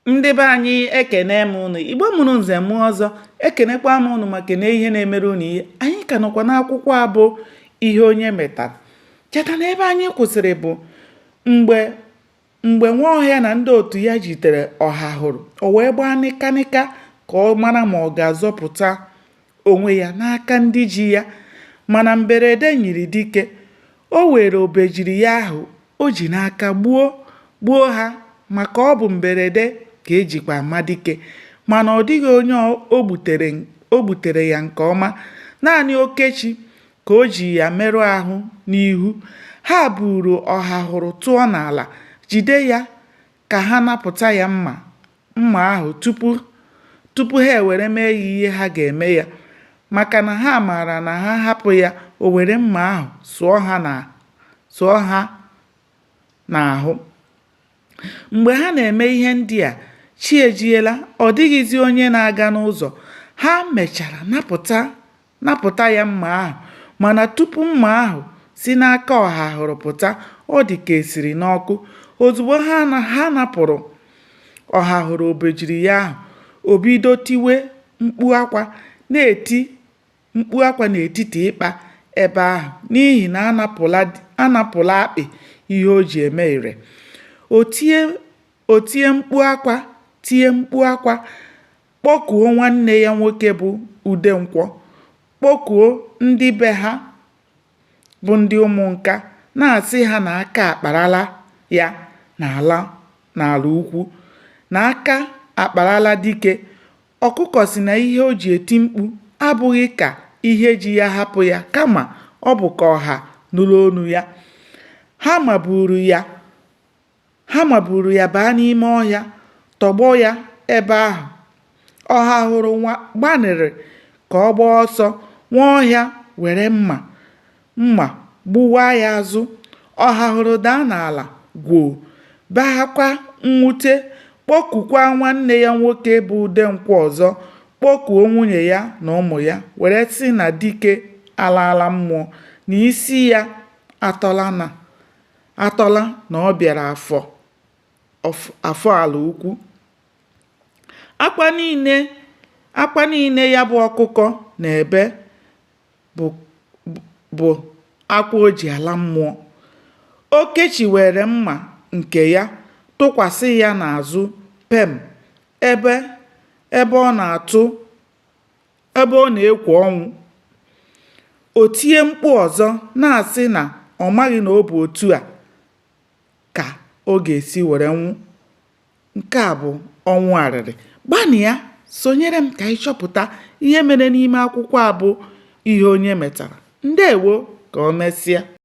ndị be anyị ekene m ụnụ igbo mụrụ nze mụọ ọzọ ekenekwa m ụnụ ma kenee ihe na-emere ụnụ ihe anyị ka nọkwa n'akwụkwọ a bụ ihe onye metara cheta na ebe anyị kwụsịrị bụ mgbe Nwaọhịa na ndị otu ya jitere Ọhahụrụ o wee gbaa nịkanịka ka ọ mara ma ọ ga-azọpụta onwe ya n'aka ndị ji ya mana mberede nyiri dike o were obejiri ya ahụ o ji n'aka gbuo gbuo ha maka ọ bụ mberede ka e jikwa ama dike mana ọ dịghị onye o gbutere ya nke ọma naanị Okechi ka o ji ya merụ ahụ n'ihu ha buru Ọhahụrụ tụọ n'ala jide ya ka ha napụta ya mma ahụ tupu ha ewere mee ya ihe ha ga-eme ya maka na ha maara na ha hapụ ya o were mma ahụ sụọ ha n'ahụ mgbe ha na-eme ihe ndị a chi ejiela ọ dịghịzi onye na-aga n'ụzọ ha mechara napụta napụta ya mma ahụ mana tupu mma ahụ si n'aka Ọhahụrụ pụta ọ dị ka e siri n'ọkụ ozugbo ha napụrụ Ọhahụrụ obejiri ya ahụ o bido tiwe mkpu akwa na-eti mkpu akwa n'etiti ịkpa ebe ahụ n'ihi na a napụla akpị ihe o ji eme ire o tie mkpu akwa tie mkpu akwa kpọkuo nwanne ya nwoke bụ Udenkwọ, kpọkuo ndị be ha bụ ndị Ụmụnka na-asị ha na aka akparala ya n'Alaukwu na aka akparala dike ọkụkọ sị na ihe o ji eti mkpu abụghị ka ihe ji ya hapụ ya kama ọ bụ ka ọha nụrụ onu ya. Ha maburu ya Ha maburu ya baa n'ime ọhịa, tọgbọ ya ebe ahụ. Ọhahụrụ gbanịrị ka ọ gbaa ọsọ, Nwaọhịa were mma mma gbuwaa ya azụ. Ọhahụrụ daa n'ala gwoo, bee akwa mwute, kpọkukwa nwanne ya nwoke bụ Udenkwọ ọzọ, kpọkuo nwunye ya na ụmụ ya were sị na dike alaala mmụọ, na isi ya atọla na atọla na ọ bịara Afọ Afọ Alaukwu akwa niile ya bụ ọkụkọ na-ebe bụ akwa o ji ala mmụọ Okechi were mma nke ya tụkwasị ya n'azụ pem ebe ebe ọ na-atụ ebe ọ na-ekwo ọnwụ o tie mkpu ọzọ na-asị na ọ maghị na ọ bụ otu a ka ọ ga-esi were nwụ nke a bụ ọnwụ arịrị gbanịa sonyere m ka anyị chọpụta ihe mere n'ime akwụkwọ a bụ ihe onye metara ndewo ka o mesịa